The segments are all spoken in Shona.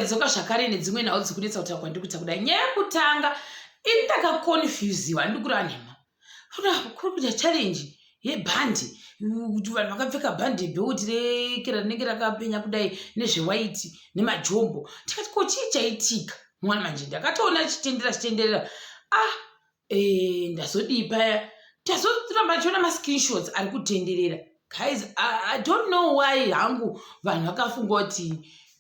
ndikadzoka zvakare nedzimwe nhau dziri kunetsa kutaura kwandiri kuita kudai nyaya yekutanga ini ndakaconfusiwa andiri kureva nhema kuri kuita challenge yebhandi kuti vanhu vakapfeka bhandi bheuti rekera rinenge rakapenya kudai nezvewaiti nemajombo tikati ko chii chaitika mwana manje ndakatoona chitenderera chitenderera ah Eh, ndazodii paya tazoramba tichiona mascreenshots ari kutenderera guys I, i don't know why hangu vanhu vakafunga kuti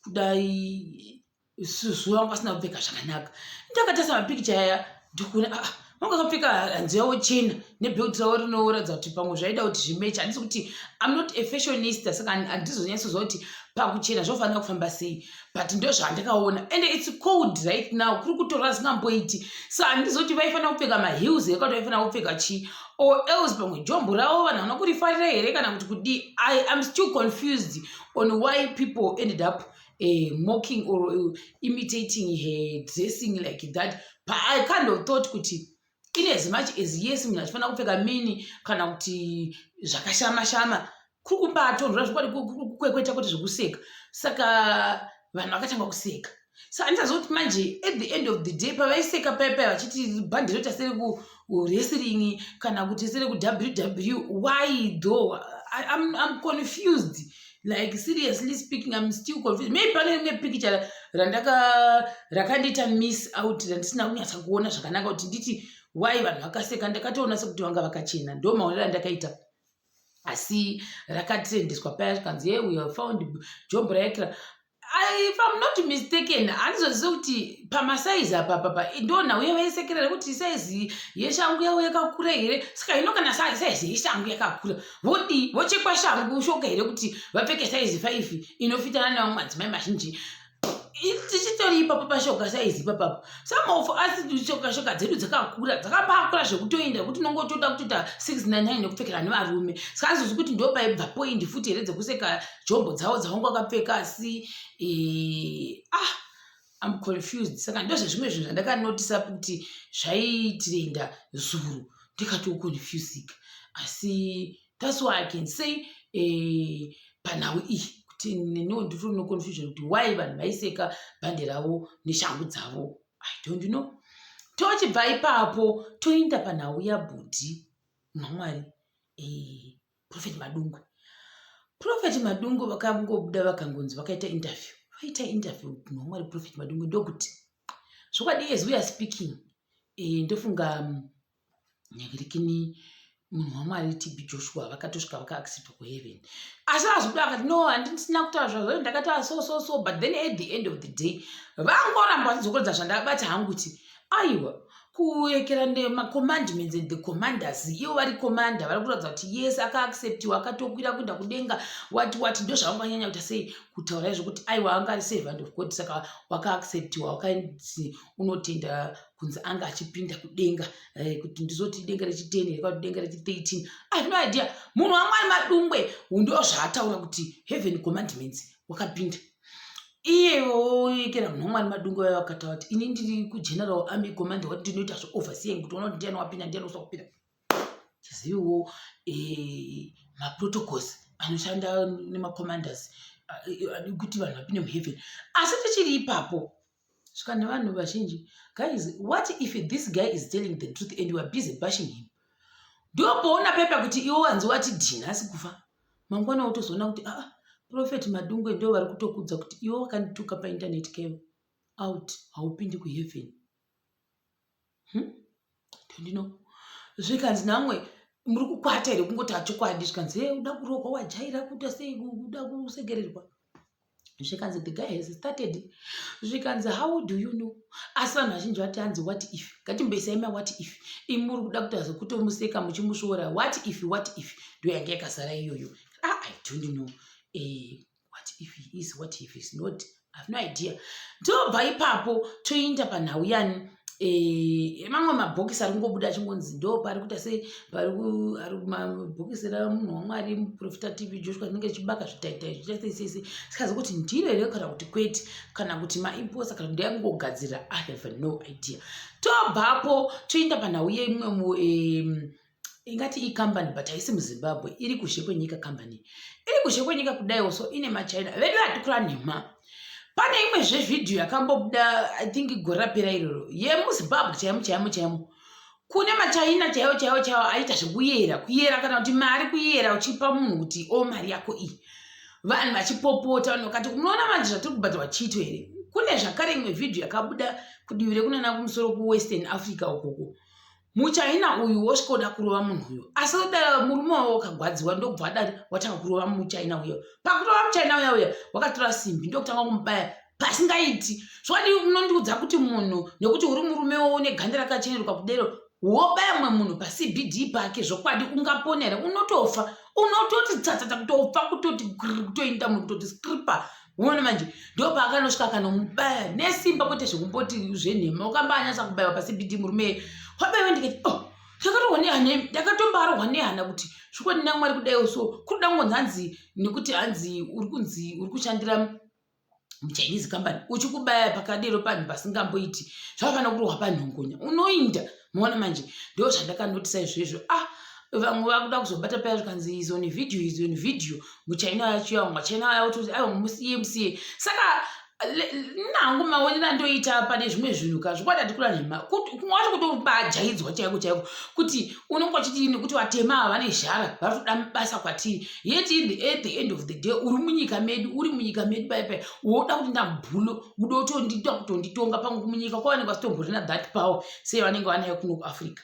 kudai susu vangu vasina kupfeka zvakanaka ndakatarisa mapikicha aya ndikuona ah, ah, vanga vakapfeka hanzu yavo chena nebelt ravo rinoratidza kuti pamwe zvaida kuti zvimechi handisi kuti im not a fashionista saka handizonyatsozva kuti pakuchena zvofanira kufamba sei but ndozvandakaona and its cold right now kuri kutora zingamboiti so handizoti vaifanira kupfeka maheels here kati vaifanira kupfeka chii or else pamwe jombo ravo vanhu vana kurifarira here kana kuti kudii i am still confused on why people ended up uh, mocking or uh, imitating her dressing like that but i kind of thought kuti in as much as yes munhu achifanira kupfeka mini kana kuti zvakashama shama kuri kubatonhora zvokwadi kwekweta kwete zvekuseka saka vanhu vakatanga kuseka so andizazoti manje at the end of the day pavaiseka paya paya vachiti bhandi roita sere kuwrestling kana kuti sere kuww why though I'm, I'm confused like seriously speaking im still confused maybe pane rimwe pikicha randaka rakandiita miss out randisina kunyatsa kuona zvakanaka kuti nditi why vanhu vakaseka ndakatoona sekuti vanga vakachena ndo maonero andakaita asi rakatrendiswa paya zvikanzi ye we have found jombo raekra I- if i'm not mistaken handizozive kuti pamasaizi apa papa ndona uye vaisekerera kuti saizi yeshangu yavo yakakura here saka hino kana sa- saizi yeshangu yakakura vodii vochekwa shangu shoka here kuti vapfeke saizi five inofitana nevamwe madzimai mazhinji I- tichitori ipapo pashoka saizi ipapapo some of us shoka shoka dzedu dzakakura dzakambakura zvekutoenda kuti unonge utoda kutoita 699 nekupfekera nevarume saka handizozivi kuti ndopaibva point futi here dzekuseka jombo dzavo dzaunge wakapfeka asi eh, ah am confused saka ndozvezvimwe zvinhu zvandakanotisa kuti zvaitirenda zuru ndikatoconfusika asi thats why i can say eh, panhau iyi kuti neniwo ndiri no confusion kuti why vanhu vaiseka bhande ravo neshangu dzavo i don't know tochibva ipapo toinda panhau yabhudhi mamwari eh, prophet madungwe prophet madungwe vakangobuda vakangonzi vakaita interview vaita interview munhu wamwari prophet madungwe ndokuti zvokwadi as we are speaking eh, ndofunga mm, nyakirikini munhu wamwari tb joshua vakatosvika vakaaccepta kuheaven asi vazobuda vakati no handisina kutaura zvazvo ndakataura so so so but then at the end of the day vangoramba vachidzokoredza zvandabata hangu kuti aiwa kuekera nemacommandments and the commanders ivo vari commander vari kuratidza kuti yes akaacceptiwa akatokwira kuenda kudenga wati wati ndo zvavanganyanya kuita sei kutaura izvo kuti aiwa anga ari servant of god saka wakaacceptiwa wakainzi unotenda kunzi anga achipinda kudenga eh, kuti ndizoti denga rechiten here kati denga rechi13 i no idea munhu wamwari madungwe ndo zvaataura kuti heaven commandments wakapinda iye woyekera munhu wamwari madungu vaya vakataura kuti ini ndiri kugeneral army command wati ndinoita zveoverseeing kuti ona kuti ndiani wapinda ndiani uswa kupinda tiziviwo eh, maprotocols anoshanda nemacommanders eh, eh, kuti vanhu vapinde muheaven asi tichiri ipapo saka nevanhu vazhinji guys what if this guy is telling the truth and weare busy bashing him ndomboona pepa kuti iwo wanzi wati dhini asi kufa mangwana wotozoona kuti aa ah, profet madungwe ndo vari kutokudza kuti iwo wakandituka painternet kevo out haupindi kuheaven hmm? ndino zvikanzi namwe muri kukwata here kungotaura chokwadi zvikanzi he uda kurohwa wajaira kuita sei uda kusekererwa zvikanzi the guy has started zvikanzi how do you know asi vanhu vazhinji vati hanzi what if ngatimboisai ma what if imi muri kuda kuita zvekutomuseka muchimusvora what if what if ndoyanga yakazara iyoyo ah, i don't know eh, what if he is what if is not have no idea tobva ipapo toinda panhau yani eh, mamwe mabhokisi ari kungobuda achingonzi ndo pari kuita sei pari mabhokisi ramunhu wamwari muprofita tv joshua rinenge chibaka zvitaitai zvichasesese sikazi kuti ndiro here kana kuti kwete kana kuti maimposa kana ndaya kungogadzirira i have no idea tobvapo toinda panhau yeimwe ingati icompany but haisi muzimbabwe iri kuzhe kwenyika company iri kuzhe kwenyika kudaiwo so ine machina vedu hatikura nhema pane imwe zvevhidhiyo yakambobuda i think gore rapera iroro yemuzimbabwe chaimo chaimo chaimo kune machina chaiwo chaiwo chaiwo aita zvekuyera kuyera kana kuti mari kuyera uchipa munhu kuti o oh, mari yako iyi vanhu vachipopota vanhu vakati unoona manje zvatiri kubhadharwa chito here kune zvakare imwe vhidhiyo yakabuda kudivi rekunana kumusoro kuwestern africa ukoko muchahina uyu wosvikoda kurova munhu uyo asi oda murume wavo wakagwadziwa ndokubva adati watanga kurova muchahina uyo pakurova muchahina uya uya wakatora simbi ndokutanga kumubaya pasingaiti zvadi unondiudza kuti munhu nekuti uri murume wowo neganda rakacheneruka kudero wobaya mumwe munhu pacbd pake zvokwadi ungapona here unotofa unototi tsatsatsa kutofa kutoti kutoinda munhu kutoti scripa uone manje ndopaakanosvika akanomubaya nesimba kwete zvekumboti zvenhema ukambaanyasa kubaiwa pasibidi murume kwabaiwa ndikati oh ndakatowa nehana ndakatombarohwa nehana kuti zvikwadi namwari kudaiwo so kuri da kungonzi hanzi nekuti hanzi uri kunzi uri kushandira muchinese company uchikubaya pakadero panhu pasingamboiti zvavafanira kurohwa panhongonya unoinda moona manje ndo zvandakandotisa izvezvo ah vamwe vakuda kuzobata paya zvikanzi is on video is on video muchina yacho yamwa china yacho ayo musiye musiye saka nangu maonera ndoita pane zvimwe zvinhu ka zvikwadi atikura nhema wacho kutobajaidzwa chaiko chaiko kuti unenge wachiti nekuti vatema ava vane zhara vari kuda basa kwatiri yet in the, at the end of the day uri munyika medu uri munyika medu pai pai woda kuti ndambulo uda kutondita kutonditonga pamwe munyika kwavanenge vasitomborina that power sei vanenge vanayo kuno kuafrica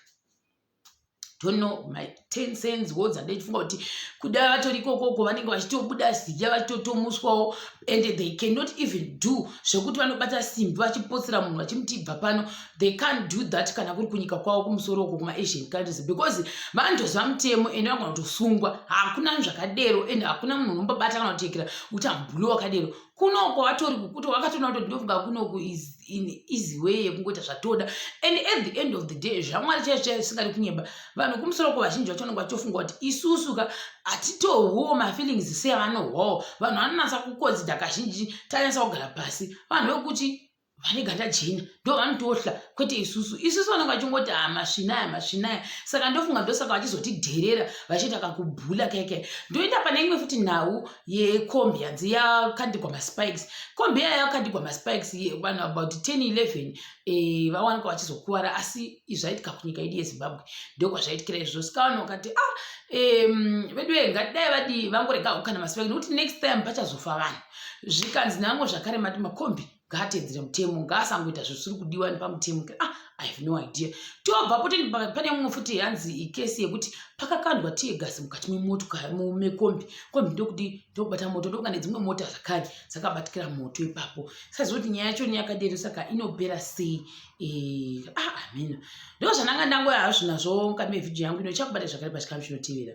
don't know my ten cents wo dzandaifunga kuti kuda vatori kokoko vanenge vachitobuda zidya vachitotomuswawo and they cannot even do zvekuti vanobata simbi vachipotsera munhu vachimuti ibva pano they can't do that kana kuri kunyika kwavo kumusoro uko kumaasian countries because vanotozva mutemo and vangona kutosungwa hakuna zvakadero and hakuna munhu unombabata kana kutekera kuti ambuli wakadero kuno kwawatori kukuti wakatoona kuti ndinofunga kunoku easy way yekungoita zvatoda and at the end of the day zvamwari chaicho chaicho zvisingadi kunyeba vanhu kumusoro ko vazhinji vacho vanenge vachitofunga kuti isusu ka hatitohwiwo mafeelings seavanohwawo vanhu vanonatsa kukonzida kazhinji tanyatsa kugara pasi vanhu vekuti vane ganda jena ndo vanotohla kwete isusu isusu vanenge vachingoti ha ah, masvinaya masvinaya saka ndofunga ndosaka vachizotidherera vachiita kakubhula keke ndoenda pane imwe futi nhau yekombi yanzi yakandigwa maspikes kombi yaya yakandigwa maspikes vanhu about 10 11 eh, vawanika vachizokuvara asi izvaitika kunyika yedu yezimbabwe ndokwazvaitikira izvo sikawana ukati a ah, vedu ve ngatidai vadi vangorega ukana masipa nekuti next time pachazofa vanhu zvikanzi nango zvakare mati makombi ngaatedzere mutemo ngaasangoita zvisiri kudiwa nepamutemo ah i have no idea tobva poti pane mumwe futi hanzi ikesi yekuti pakakandwa tiye gasi mukati memotomekombi kombi ndokuti ndokubata moto ndokuka nedzimwe mota zvakare dzakabatikira moto ipapo sazoti nyaya yacho neyakadero saka inopera sei Eh, ah, amina ndo zvandanga ndangoya hazvo nazvo mukati mevhidhiyo yangu ino chakubata zvakare pachikamu chinotevera